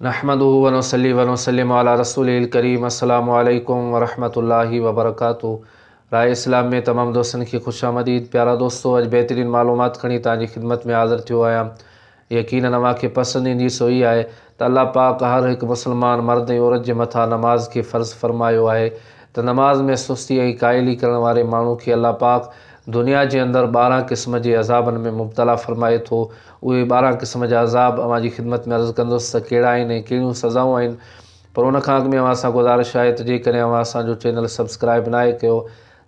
نحمده ونصلي ونسلم علي رسوله الڪريم السلام عليڪم ورحمة الله وبرڪاته راء اسلام ۾ تمام دوستن کي خوش آمديد پيارا دوستو اڄ بهترين معلومات کڻي توهان جي خدمت ۾ حاضر ٿيو آهيان يقينن اوهان کي پسند ايندي سو هي آهي ته الله پاڪ هر هڪ مسلمان مرد ۽ عورت جي مٿان نماز کي فرض فرمايو آهي ته نماز ۾ سستي ۽ قائلي ڪرڻ واري ماڻهو کي الله پاڪ دنيا جي اندر ٻارهن قسم جي عذابن ۾ مبتلا فرمائي ٿو اهي ٻارهن قسم جا عذاب اوهان جي خدمت ۾ عرض ڪندس ته ڪهڙا آهن ۽ ڪهڙيون سزائون آهن پر ان کان اڳ ۾ اوهان سان گذارش آهي ته جيڪڏهن اوهان اسان جو چينل سبسڪرائب ناهي ڪيو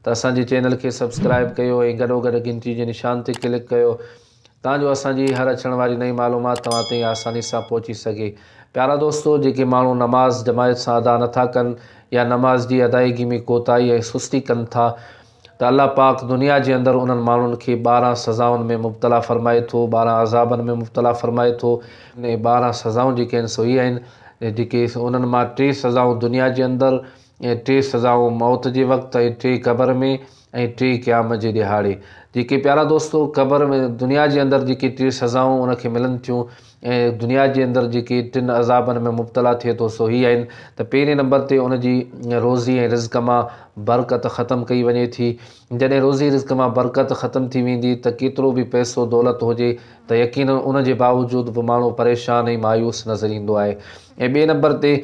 ته اسان جي چينل کي سبسڪرائب ڪيو ۽ گڏوگڏ گهنٽي جي نشان تي ڪلڪ ڪيو تان جو اسان جي هر اچڻ واري نئين معلومات توهان تائين آساني سان پهچي سگهي پيارا دوستو جيڪي ماڻهو نماز جماعت سان ادا نٿا ڪن يا نماز جي ادائيگي ۾ ڪوتاهي ۽ سستي ڪن ٿا ته الله پاڪ دنيا جي اندر انهن ماڻهن کي ٻارهن سزائن ۾ مبتلا فرمائي ٿو، ٻارهن عذابن ۾ مبتلا فرمائي ٿو. اهي ٻارهن سزائون جيڪي آهن سو اهي آهن جيڪي انهن مان ٽي سزائون دنيا جي اندر ۽ ٽي سزائون موت جي وقت ۽ ٽي قبر ۾ ۽ ٽي قيامت جي ڏهاڙي جيڪي پيارا دوستو قبر ۾ دنيا جي اندر جيڪي ٽي سزائون ان کي ملن ٿيون ۽ دنيا جي اندر جيڪي ٽن عذابن ۾ مبتلا ٿئي ٿو سو هي آهن ته پهرين نمبر تي ان جي روزي ۽ رزق مان برڪت ختم ڪئي وڃي ٿي جڏهن روزي رزق مان برڪت ختم ٿي ويندي ته ڪيترو به پئسو دولت هجي ته يقينن ان جي باوجود به ماڻهو پريشان ۽ مايوس نظر ايندو آهي ۽ ٻئي نمبر تي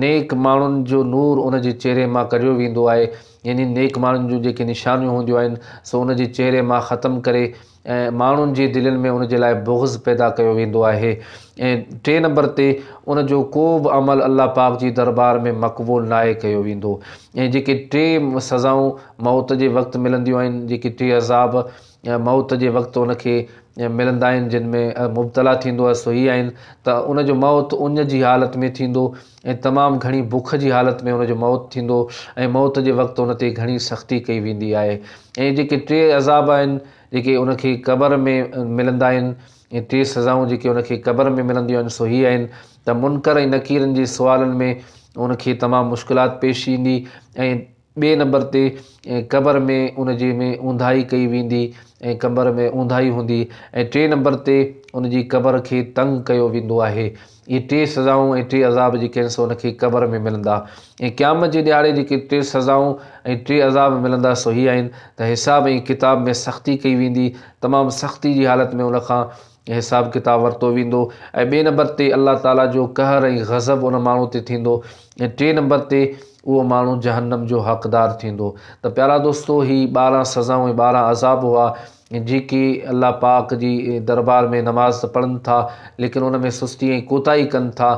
نيڪ ماڻهن جو نور ان جي چهري مان ڪڍيو ويندو آهي يعني نيڪ ماڻهن جون جيڪي نشانيون هونديون آهن سو ان جي چهري مان ختم ڪري ۽ ماڻهن جي دلين ۾ ان جي لاء بغض پيدا ڪيو ويندو آهي ۽ ٽئين نمبر تي ان جو ڪو به عمل الله پاڪ جي دربار ۾ مقبول ناهي ڪيو ويندو ۽ جيڪي ٽي سزائون موت جي وقت ملنديون آهن جيڪي ٽي عذاب موت جي وقت ان کي ملندا آهن جن ۾ مبتلا ٿيندو آهي سو هي آهن ته ان جو موت اڃ جي حالت ۾ ٿيندو ۽ تمام گهڻي بک جي حالت ۾ ان جو موت ٿيندو ۽ موت جي وقت ان تي گهڻي سختي ڪئي ويندي آهي ۽ جيڪي ٽي عذاب آهن جيڪي ان کي قبر ۾ ملندا آهن ۽ ٽي سزائون جيڪي ان کي قبر ۾ ملنديون آهن سو هي آهن ته منڪر ۽ نڪيرن جي سوالن ۾ ان کي تمام مشڪلات پيش ايندي ۽ ٻئي نمبر تي قبر ۾ ان جي ۾ اونداهي ڪئي ويندي ۽ قبر ۾ اونداهي هوندي ۽ ٽئين نمبر تي ان جي قبر کي تنگ ڪيو ويندو آهي اهي ٽي سزائون ۽ ٽي عذاب جيڪي آهن سو ان کي قبر ۾ ملندا ۽ قيامت جي ڏهاڙي جيڪي ٽي سزائون ۽ ٽي عذاب ملندا سو هي آهن ته حساب ۽ ڪتاب ۾ سختي ڪئي ويندي تمام سختي جي حالت ۾ ان کان حساب ڪتاب ورتو ويندو ۽ ٻئي نمبر تي الله تعالي جو قهر ۽ غضب ان ماڻهو تي ٿيندو ۽ ٽي نمبر تي اهو ماڻهو جهنم جو حقدار ٿيندو ته پيارا دوستو هي ٻارهن سزائون ۽ ٻارهن عذاب هئا جيڪي الله پاڪ جي دربار ۾ نماز ته پڙهن ٿا ليڪن ان ۾ سستي ۽ ڪوتاهي ڪن ٿا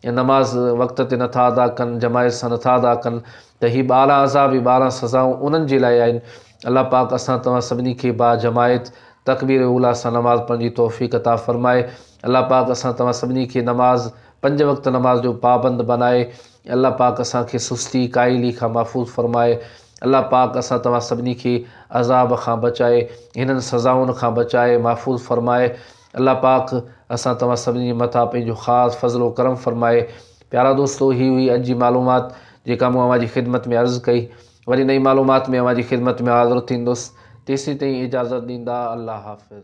۽ نماز وقت تي نٿا ادا ڪن جماعت سان نٿا ادا ڪن ته هي ٻارهن عذاب هي ٻارهن سزائون انهن جي لاء آهن الله پاڪ اسان توهان سڀني کي با جماعت تڪبير اولی سان نماز پڙهڻ جي توفيق عطا فرمائي الله پاڪ اسان توهان سڀني کي نماز پنج وقت نماز جو پابند بنائي الله پاڪ اسان کي سستي قائلي کان محفوظ فرمائي الله پاڪ اسان توهان سڀني کي عذاب کان بچائي هنن سزائن کان بچائي محفوظ فرمائي الله پاڪ اسان توهان سڀني جي مٿان پنهنجو خاص فضل و کرم فرمائي پيارا دوستو هي هئي اڄ جي معلومات جيڪا مون اوهان جي خدمت ۾ عرض ڪئي وري نئين معلومات ۾ اوهان جي خدمت ۾ حاضر ٿيندس تيسين تائين اجازت ڏيندا الله حافظ.